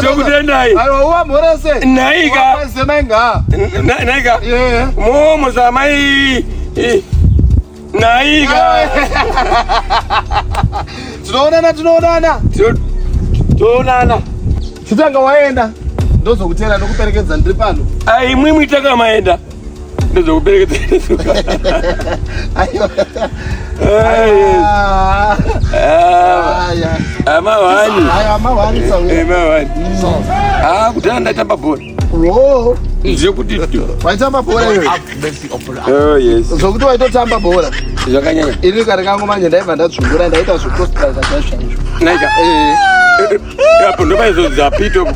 tokutendai naika naika momo zamai naika tinoonana tinoonana tinoonana chitanga waenda ndozokutera ndokuperekedza ndiri pano aimwimwi takamaenda kudhara ndaitamba bhora zvekuti waitamba bhora zvokuti waitotamba bhora zvakanyanya ini kare kangu manje ndaibva ndadzvungura ndaita zvekostra zvachaizvo apo ndopaizodza pito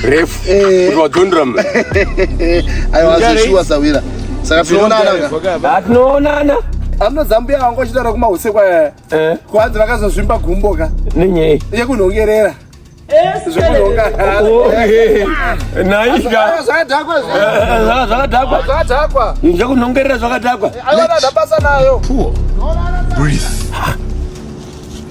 refu eh. kuti wadzondera mna aiwa zeshuwa sawira saka tinoonana ka tinoonana amno zambuya wangu achitaura kumahusekwa eh. eh. kwanzi vakazozvimba gumbo ka nenyei yekunhongerera zvakadhakwa zvekunhongerera zvakadhakwa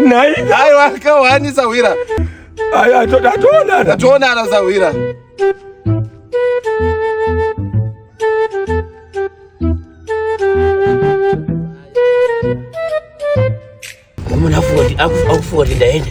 Nai. Nai waka wani sawira. Ayi atona atona. Atona na sawira. Mwana afuwa afuwa ndaenda.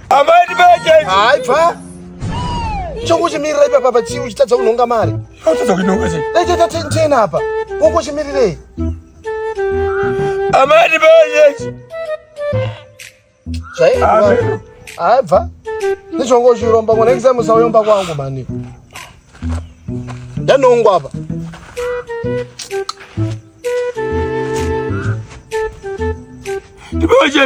Amai ndibeje. Hayi bva. Chokuchimirira ipa papa chii uchitadza kunhonga mari. Uchitadza kunhonga chii? Dai tata tena apa. Wokuchimirirei? Amai ndibeje. Zvayi. Amen. Hayi bva. Ndichongo chiromba ngona exam usayomba kwangu mani. Ndanongwa apa. Ndibeje.